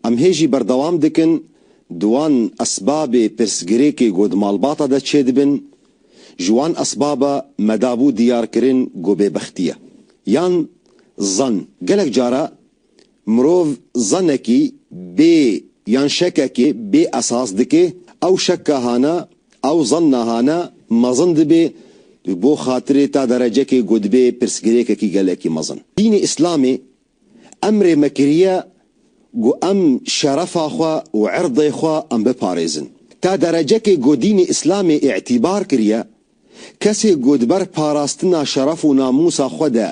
Em hê jî berdewam dikin di wan esbabê pirsgirêkê ku di malbata de çêdibin, ji wan esbaba me dabû diyarkirin ku bêbextî ye. Yan zan. Gelek cara mirov zanekî bê yan şekekê bê esas dike, ew şeka hana, ew zanna hana mezin dibe bo xatirê ta derecekê ku dibe pirsgirêkekî gelekî mezin. Dînê Îslamê Emrê me kiriye ku em şerefa xwe û irdê xwe em biparêzin. Ta derecekê ku dînê Îslamê îtîbar kiriye, kesê ku di ber parastina şeref û namûsa xwe de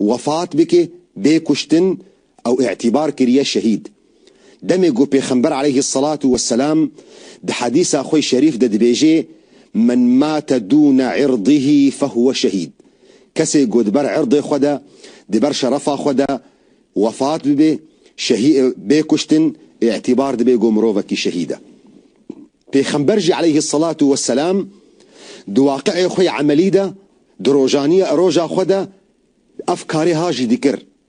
wefat bike, bê kuştin, ew îtîbar kiriye şehîd. Demê ku Pêxember aleyhî selatû we selam di hedîsa xwe şerîf de dibêje, Men mate dûne irdihî fehuwe şehîd, Kesê ku di ber irdê xwe de, di ber şerefa xwe de wefat bibe, şehî bê kuştin, îtîbar dibe ku mirovekî şehîd e. Pêxember jî aleyhî selatû we selam di waqiê xwe yê emelî de, di rojaniya roja xwe de ev karê ha jî dikir.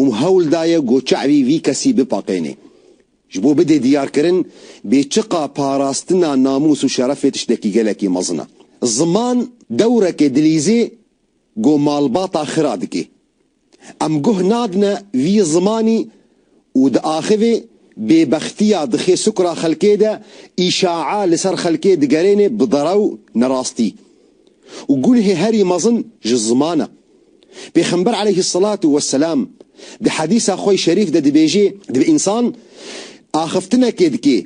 û hewl daye ku çavî vî kesî bipaqênê. Ji bo bidê diyarkirin bêçiqa parastina namûs û şerefê tiştekî gelekî mezin e. Ziman dewreke dilîzê ku malbata xira dike. Em guh nadine vî zimanî û di axivê bêbextiya dixê sukra xelkê de, îşa'a li ser xelkê digerêne bi derew, nerastî. û gulhê herî mezin ji ziman e. Pêxember eleyhî selatu weselam di hedîsa xwe şerîf de dibêje, Divê însan axiftinekê dike,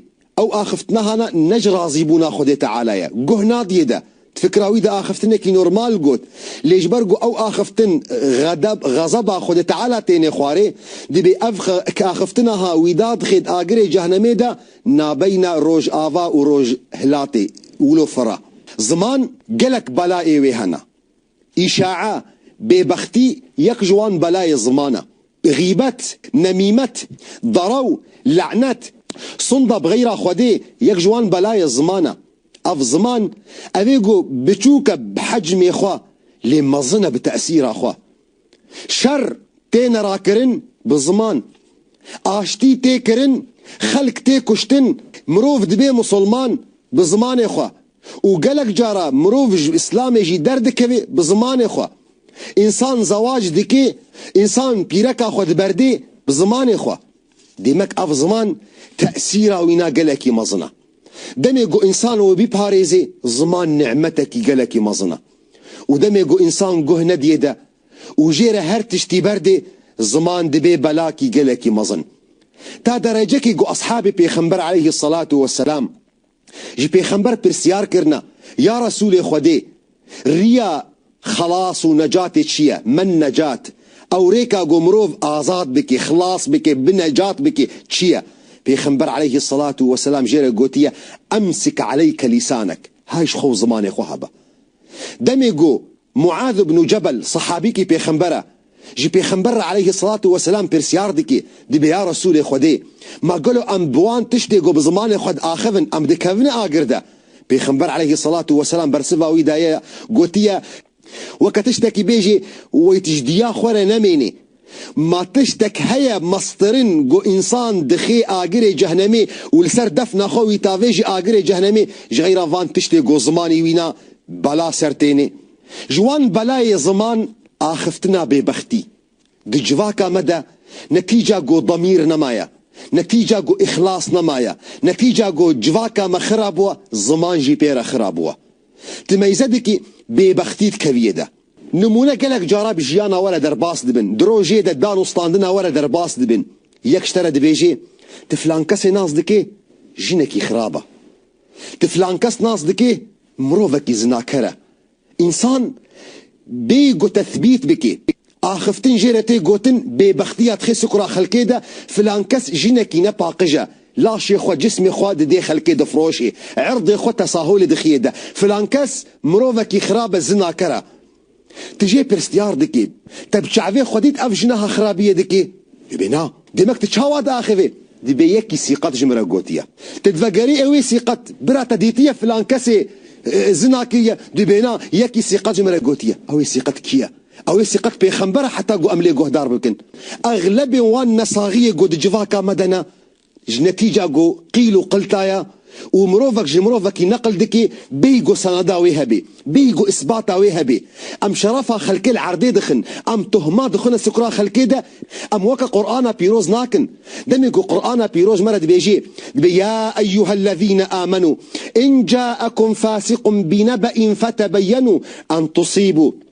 ew axiftinahana ne ji razîbûna Xwedê Teala ye, guh nadiye de, di fikra wî de axiftinekî normal got, lê ji ber ku ew axiftin xedeb, xezeba Xwedê Teala têne xwarê, divê ev axiftinahawî da dixêt agirê cehnemê de, Nabeyna Rojava û Rojhilatê wilo fira. Ziman gelek belayê wê hene. Îşae, bêbextî yek ji wan belayê ziman e. Xîbet, nemîmet, daraw, le'net, sonda bi xeyra Xwedê yek ji wan belayê ziman e. Ev ziman, ev ê ku biçûk e bi hecmê xwe lê mezin e bi tesîra xwe. Şer têne rakirin bi ziman. Aştî tê kirin, xelk tê kuştin, mirov dibê musulman bi zimanê xwe û gelek cara mirov ji îslamê jî derdikeve bi zimanê xwe. Însan zewac dike, însan pîreka xwe diberde bi zimanê xwe. Demek ev ziman tesîra wî na gelekî mezin e. Demê ku însan wê biparêze ziman nîmetekî gelekî mezin e. Û demê ku însan guh nediyê de û jê re her tiştî berdê, ziman dibê belakî gelekî mezin. Ta derecekî ku eshabê pêxember aleyhî selatu weselam ji pêxember pirsiyar kirine, Ya Resûlê Xwedê! Riya xelas û necatê çi ye? Men necat, ewrêka ku mirov azad bike, xilas bike, bi necat bike çi ye? Pêxember aleyhî selatu weselam jê re gotiye, Emsik aleyke lîsanek. Hay ji xwe û zimanê xwe habe. Demê ku Muaz ibnû Cebel sehabîkî pêxember e, ji pêxember re aleyhî selatû weselam pirsiyar dike, dibê ya Resûlê Xwedê, ma gelo em bi wan tiştê ku bi zimanê xwe diaxivin em dikevine agir de? Pêxember aleyhî selatû weselam bersiva wî daye, gotiye, Weke tiştekî bê jî wêtijdiya xwe re nemênê. Ma tiştek heye mastırın go insan dixê agirê cehnemê û li ser defna xwe wî tavê jî agirê cehnemê ji xeyra van tiştê go zimanî wî na bela ser tênê. Ji wan belayê ziman axiftina bêbextî. Di civaka me de ne tîca ku demîr nemaye, ne tîca ku îxlas nemaye, ne tîca ku civaka me xira bûye, ziman jî pê re xira bûye. Ti meyzedekî bêbextî dikeviyê de. Nimûne gelek cara bi jiyana we re derbas dibin, di rojê de dan û standina we re derbas dibin. Yek ji te re dibêjê, Ti filan kesê nas dikê, jinekî xirab e. Ti filan kes nas dikê, mirovekî zinaker e. Însan bê ku tethbît bike, axiftin jê re tê gotin bêbextiya dixê sukura xelkê de, filankes jinekî ne paqij e, laşê xwe, cismê xwe didê xelkê difroşê, irdê xwe tesaholê dixiyê de, filankes mirovekî xirab e, zinaker e. Ti jê pirstiyar dikî, te bi çavê xwe dît ev jinaha xirabiyê dikê? Yê bê na. Demek tu çawa diaxivî? Divê yekî sîqet ji min re gotiye. Tu divegerî ewê sîqet, bira te dîtiye filan kesê zina kiriye, tu bêna yekî sîqet ji min re gotiye. Ewê sîqet kî ye? Ewê sîqet pêxember e heta ku em lê guhdar bikin. Exlebên wan nesaxiyê ku di civaka me de ne, ji netîca ku qîl û qilta ye, û mirovek ji mirovekî neqil dike bêyî ku seneda wê hebe, bêyî ku îsbata wê hebe. Em şerefa xelkê li erdê dixin, em tohma dixwine sikura xelkê de, em weke Qur'ana pîroz nakin. Demê ku Qur'ana pîroz me re dibêje, dibe ya eyyuhellezîne âmenû in câekum fâsiqun binebe'in fetebeyyenu en tusîbû,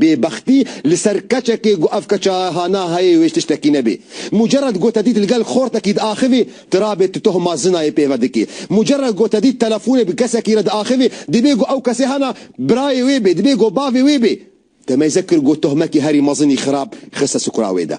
Bêbextî li ser keçekê ku ev keça hana heyê wê ji tiştekî nebê. Mucerred gote dît li gel xortekî diaxivê, tu rabê tu tohma zinayê pê ve dikê. Mucerred gote dît telefonê bi kesekî re diaxivê, dibê ku ew kesê hana birayê wê bê, dibê ku bavê wê bê. Demeyze kir got tohmekî herî mezinî xirab xiste sukura wê de.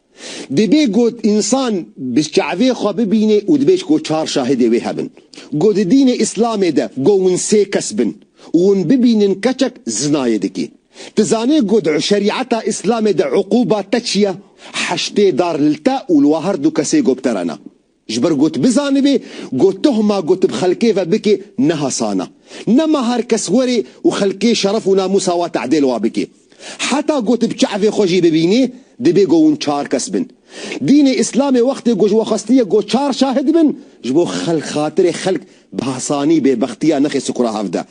Dibê got însan bi çavê xwe bibînê û dibê ji ku çar şahidê wê hebin. Got di dînê îslamê de got win sê kes bin û win bibînin keçek zinayê dike. Ti zanê got şerîeta îslamê de uquba te çi ye? Heştê dar li te û li we her du kesê got biterena. Ji ber got bizanibê, got tohma got bi xelkê ve bikê ne hasan e. Nema her kes were û xelkê şeref û namûsa we tedêl wa bikê. Heta got bi çavê xwe jî bibînê, dibe got hûn çar kes bin. Dînê îslamê wextê got ji we xwestiye got çar şahid bin, ji bo xelk xatirê xelk Bahsanî bêbextiya nexê sikura hev de.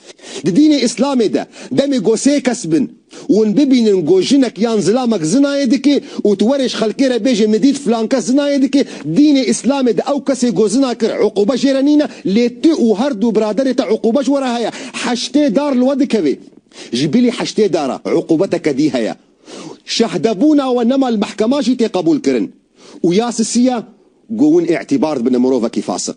Di dînê îslamê de demê ku sê kes bin û hûn bibînin ku jinek yan zilamek zinayê dike û tu werê ji xelkê re bêje min dît filan kes zinayê dike, dînê îslamê de ew kesê ku zina kir uqûbe jê re nîne lê tu û her du biraderê te uqûbe ji we re heye. Heştê dar li we dikeve. Ji bilî heştê dar e uqûbe te kedî heye. Şahdebûna we nema li mehkema jî tê qebûlkirin û ya sisî ye ku hûn îtîbar dibine mirovekî fasik.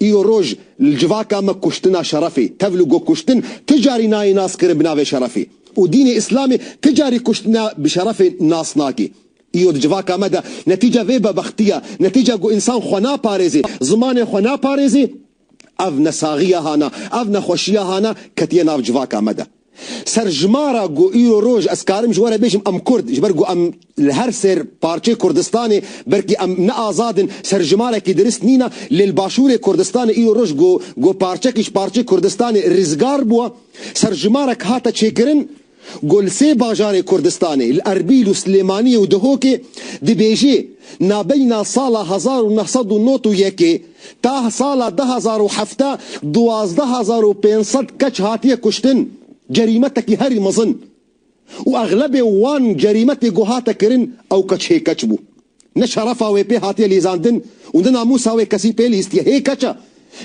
Îro roj li civaka me kuştina şerefê, tevl û go kuştin ti carî nayê naskirin bi navê şerefê û dînê îslamê ti carî kuştina bi şerefê nas nake. Îro di civaka me de netîca vê bebextiya, netîca ku însan xwe naparêzê, zimanê xwe naparêzê, ev nesaxiya hana, ev nexweşiya hana ketiye nav civaka me de. Serjimara ku îro roj ez karim ji we re bêjim em kurd ji ber ku em li her sêr parçeyê Kurdistanê belkî em ne azad in serjimarekî dirist nîn e lê li başûrê Kurdistanê îro roj ku ku parçekî ji parçeyê Kurdistanê rizgar bûye serjimarek hate çêkirin ku li sê bajarê Kurdistanê li Erbîl û Silêmaniyê û Dihokê dibêjê nabeyna sala hezar û neh sed û nod û yekê Ta sala du hezar û heft duwazdeh hezar û pênc sed keç hatiye kuştin, cerîmetekî herî mezin û exlebê wan cerîme tê ku hate kirin ew keç hê keç bû. Ne şerefa wê pê hatiye lîzandin û ne namûsa wê kesî pê lîstiye. Hê keç e.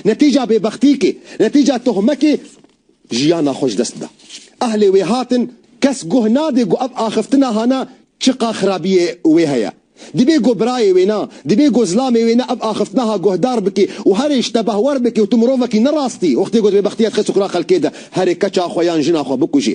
Netîca bêbextîkê, netîca tohmekê Jiyana xwe ji dest da. Ehlê wê hatin, kes guh nade ku ev axiftina hana çiqa xirabiyê wê heye. Dibê ku birayê wê na, dibê ku zilamê wê na ev axiftinaha guhdar bike û herê ji te behwer bike û tu mirovekî ne rastî wextê ku divê bextiyet xêz û xira xelkê de herê keça xwe yan jina xwe bikujî.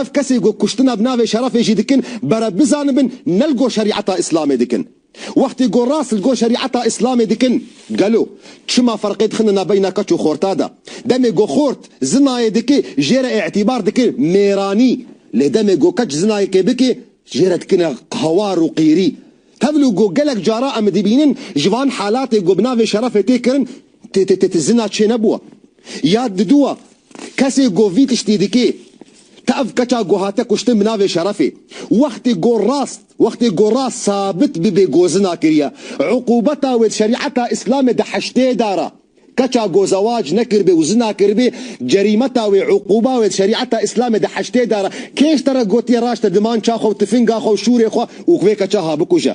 Ev kesên ku kuştina bi navê şerefê jî dikin bere bizanibin ne li gor şerîeta îslamê dikin. Wextê ku rast li gor şerîeta îslamê dikin gelo çima ferqê dixine nabeyna keç û xorta de. Demê ku xort zinayê dike jê re îtîbar dike mêranî lê demê ku keç zinayekê bike jê re dikine hawar û qîrî. Tevlû ku gelek cara em dibînin ji van halatê ku bi navê şerefê tê kirin tê tê tê tê zina çênebûwa. Ya diduwa, kesê go vî tiştî dikê, te ev keça go hate kuştin bi navê şerefê. Wextê go rast, wextê go rast sabit bibê go zina kiriye, uqûbeta wê di şerîeta îslamê di heştê dar a. Keça go zewac nekiribê û zina kiribê, cerîmeta wê, uqûba wê di şerîeta îslamê di heştê dar a. Kê ji te re gotiye raşte dimança xwe û tifinga xwe û şûrê xwe û vê keça ha bikuje?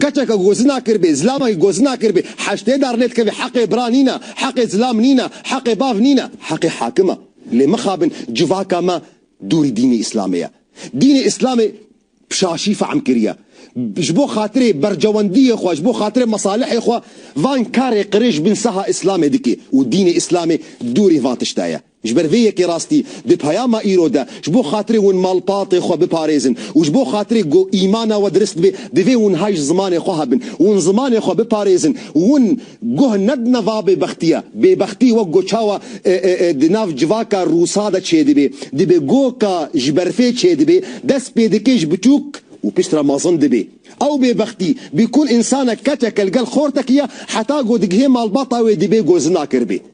Keçeke ku gozina kiribê, zilama ku gozina kiribê, heştê dar lê dikeve, heqê bira nîne, heqê zilam nîne, heqê bav nîne, heqê hakim e. Lê mixabin civaka me dûrî dînê îslamê ye. Dînê îslamê pişaşî fehm kiriye. Ji bo xatirê bercewendiyê xwe, ji bo xatirê mesalihê xwe van karê qirêj bin saha îslamê dike û dînê îslamê dûrî van tişte ye. Ji ber vê yekê rastî di peyama îro de ji bo xatirê hûn malpatê xwe biparêzin û ji bo xatirê ku îmana we dirist be divê hûn hay ji zimanê xwe hebin û hûn zimanê xwe biparêzin û hûn guh nedine va bêbextiya. Bêbextî wek ku çawa di nav civaka rûsa de çêdibe, dibe goka ji berfê çêdibe, dest pê dike ji biçûk û pişt re mezin dibe. Ew bêbextî bi ku însanek keçeke li gel xortekî ye heta ku digihê malbata wê dibe ku zinak ir be.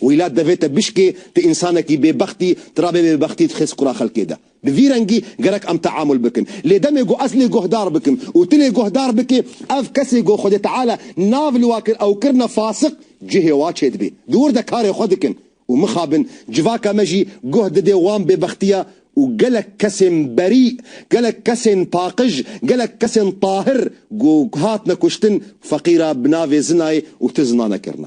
Wîlat devê te bişkê, tu însanekî bêbext î, tu rabê bêbextî dixêz qura xelkê de. Bi vî rengî gerek em teamul bikin. Lê demê ku ez lê guhdar bikim û tu lê guhdar bikî, ev kesê ku Xwedê Teala nav li wa kir ew kirine fasik, cihê wa çêdibê. Dûr de karê xwe dikin û mixabin. Civaka me jî guh didê wan bêbextiya û gelek kesên berî, gelek kesên paqij, gelek kesên tahir ku hatine kuştin, feqîra bi navê zinayê û tu zina nekirine.